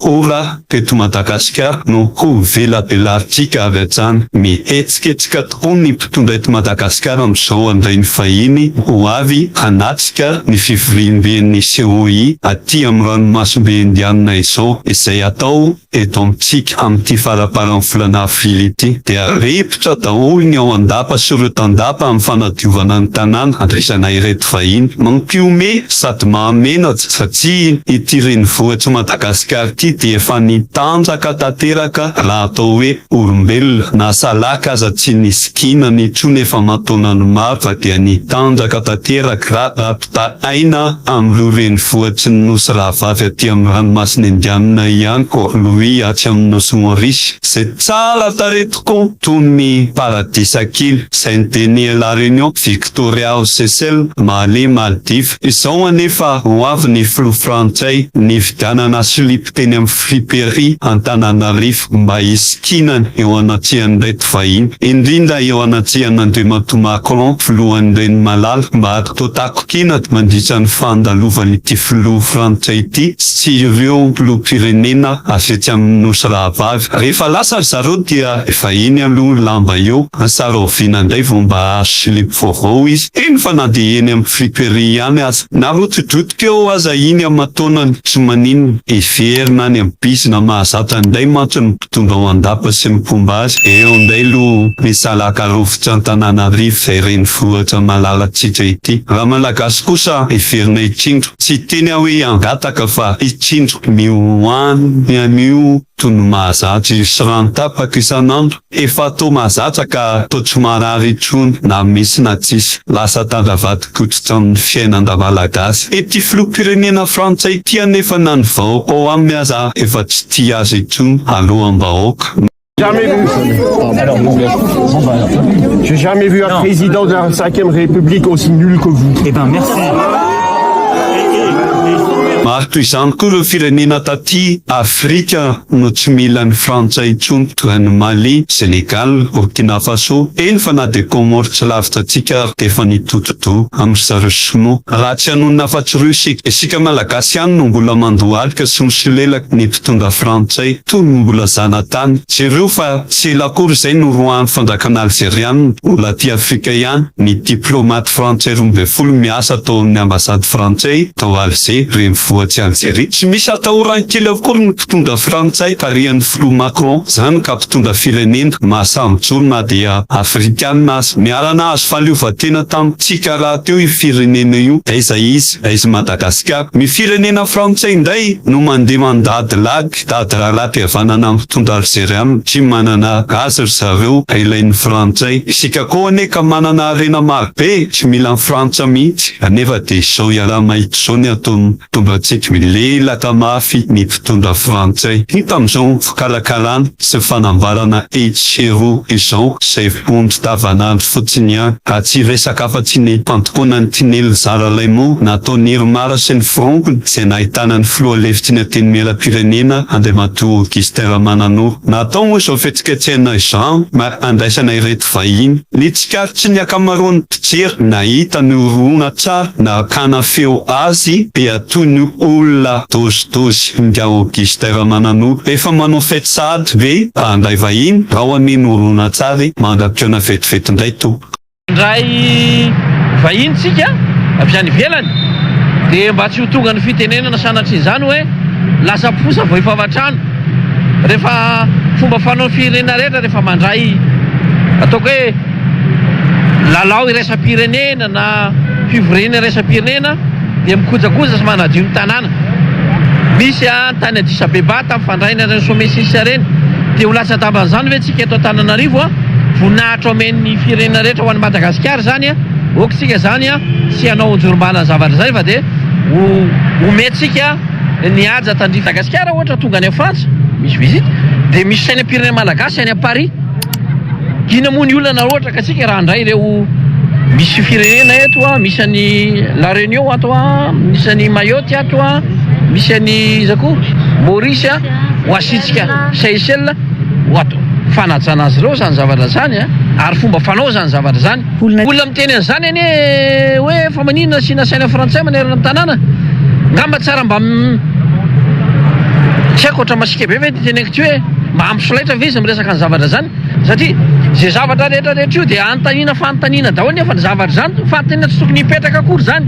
Ora teto Madagasikara no ho velabelarintsika avy hatrany. Mihetsiketsika tokoa ny mpitondra eto Madagasikara amin'izao handray ny vahiny ho avy hanatrika ny fivoriamben'ny COI aty amin'ny ranomasimbe Indianina izao izay hatao eto amintsika amin'ity faraparan'ny volana avrily ity. Dia ripotra daholo ny ao an-dapa sy ireo tandapa amin'ny fanadiovana ny tanàna handraisana ireto vahiny. Mampihomehy sady mahamenatra satria ity renivohitr'i Madagasikara ity dia efa nitanjaka tanteraka raha atao hoe olombelona na salaka aza tsy nisy kinana intsony efa aman-taonany maro fa dia nitanjaka tanteraka raha rapitra aina amin'ireo renivohitry ny nosy rahavavy aty amin'ny ranomasina indianina ihany koa Louis atsy amin'ny nosy Maurice izay tsara tarehy tokoa toy ny paradisa kely izay ny Denier La Réunion Doriao Cecil, Mahaleo Maldives izao anefa ho avy ny filoha frantsay nividianana silipo teny amin'ny friperie Antananarivo mba hisikinany eo anatrehan'ireto vahiny, indrindra eo anatrehan'Andriamatoa Macron filohan'ny renimalala mba hatontakotiana mandritra ny fandalovan'ity filoha frantsay ity sy ireo filoham-pirenena avy etsy amin'ny Nosy rahavavy. Rehefa lasa ry zareo dia. Efa iny aloha ny lamba eo, asa rahoviana indray vao mba hahazo silipo vaovao izy. Heno fa na dia eny amin'ny friperie ihany aza, na rotidrotika eo aza iny aman-taonany, tsy maninona. Hiverina any amin'ny bizy na mahazatra indray mantsy ny mpitondra ao an-dapa sy ny mpomba azy. Eo indray aloha ny salaka rovitra Antananarivo izay renivohitra malalantsika ity. Raha Malagasy kosa hiverina hitsindro. Tsy hiteny aho hoe hangataka fa hitsindro. Ny ho any anio Tono mahazatra io sy rano tapaka isan'andro. Efa toa mahazatra ka toa tsy marary intsony na misy na tsisy. Lasa tandravatopototra amin'ny fiainan-dRamalagasy. Ity filoham-pirenena frantsay ity anefa na ny vahoaka ao aminy aza efa tsy tia azy intsony aloham-bahoaka. Maro toy izany koa ireo firenena. Ty Afrika no tsy mila an'i Frantsa intsony toa an'i Mali, Senegal, Burkina Faso, eny fa na dia Comores tsy lavitra antsika ary dia efa nitoto-doha amin'ry zareo Sinoa. Raha tsy hanonona afa-tsy roa isika, isika Malagasy ihany no mbola mandohalika sy misolelaka ny mpitondra Frantsay toa ny mbola zanatany. Jereo fa tsy ela akory izay noroahan'ny fanjakana Alzeriana ho laty Afrika ihany ny diplaomaty Frantsay roa ambin'ny folo miasa tao amin'ny Ambasady Frantsay, tao Alger, renivohitry Alzeria. Tsy misy atahoran'ny kely avokoa ny mpitondra frantsay tarihan'ny filoha Macron, izany ka mpitondra firenena mahasambo-joro na dia afrikana aza. Niara-nahazo fahaleovantena tamintsika rahateo io firenena io. Aiza izy? Aiza i Madagasikara? Ny firenena frantsay indray no mandeha mandady lag. Mpitady raharaham-pihavanana mitondra Alzeriana tsy manana azy ry zareo ka ilain'ny Frantsay. Isika koa anie ka manana harena marobe tsy mila an'i Frantsa mihitsy anefa dia izao iaraha-mahita izao ny ataon'ny mpitondra antsika. Milelaka mafy ny mpitondra Frantsay. Hita amin'izao fikarakarana sy fanambarana etsy sy eroa izao izay vonjy davan'andro fotsiny ihany. Ka tsy resaka afa-tsy ny fandokoana ny tinelin-dRalaimo nataon'i Irmar sy ny firaompiny izay nahitana ny filoha lefitry ny Antenimierampirenena, Andriamatoa Augustin Ramananoro. Natao moa izao fihetsiketsehana izao mba handraisana ireto vahiny. Ny tsikarotrin'ny ankamaroan'ny mpijery nahita ny horonantsary nakana feo azy dia toy ny olona dozidozy ingahy Augustin Ramananoro. Efa manao fety sahady ve mba handray vahiny ao amin'iny horonantsary mandra-pitaona vetivety indray tompoko? Indray vahiny tsika avy any ivelany dia mba tsy ho tonga ny fitenenana sanatria izany hoe lasa mposa vao efa avan-trano. Rehefa fomba fanaon'ny firenena rehetra rehefa mandray ataoko hoe lalao iraisam-pirenena na fivoriana iraisam-pirenena dia mikojakoja sy manadio ny tanàna. Misy an tany Addis Abeba tamin'ny fandraina ireny sommet six ireny dia ho latsa-damban'izany ve tsika? Teto Antananarivo a, voninahitra omen'ny firenena rehetra ho an'i Madagasikara izany a, ok tsika izany a, tsy hanao anjorom-bala ny zavatra izay fa dia ho omentsika ny haja tandrify. Madagasikara ohatra tonga any Frantsa misy visite dia misy sainam-pirenena Malagasy any Paris, inona moa ny olana raha ohatra ka tsika raha handray ireo misy firenena eto a, misy an'i La Réunion ato a, misy an'i Mayotte ato a, misy an'i iza koa Maurice a, ho asiantsika Seychelles. Ohatra, fanajana azy ireo izany zavatra izany an! Ary fomba fanao izany zavatra izany. Olona miteny an'izany anie hoe fa maninona tsy nasaina frantsay manerana ny tanàna? Angamba tsara mba tsy haiko ohatra masiaka be ve ity teneniko ity hoe mba ampy solaitra ve izy miresaka ny zavatra izany? Satria izay zavatra rehetra rehetra io dia anontaniana fanontaniana daholo nefa ny zavatra izany fanontaniana tsy tokony hipetraka akory izany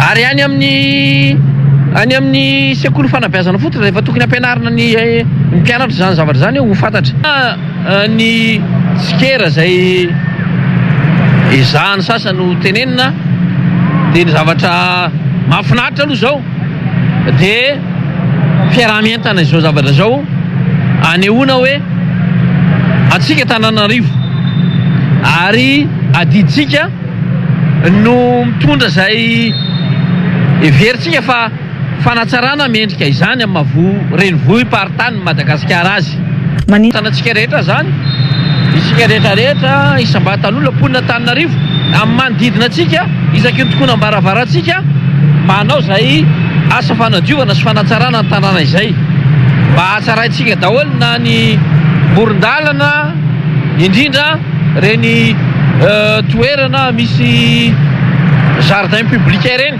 ary any amin'ny any amin'ny sekoly fanabeazana fotsiny. Tsy efa tokony ampianarina ny mpianatra izany zavatra izany eo ho fantatra fa ny tsikera izay ezahan'ny sasany ho tenenina dia ny zavatra mahafinaritra aloha izao dia fiaraha-mientana izao zavatra izao anehoana hoe antsika Antananarivo ary adidintsika no mitondra izay heverintsika fa Fanatsarana mendrika izany amin'ny maha renivohi-paritanin'i Madagasikara azy. Manintona antsika rehetra izany, isika rehetra rehetra, isam-batan'olona, mponina Antananarivo, amin'ny manodidina antsika, isaky ny tokonam-baravarantsika, mba hanao izay asa fanadiovana sy fanatsarana ny tanàna izay, mba hahatsaraintsika daholo na ny moron-dalana, indrindra ireny toerana misy jardin public ireny.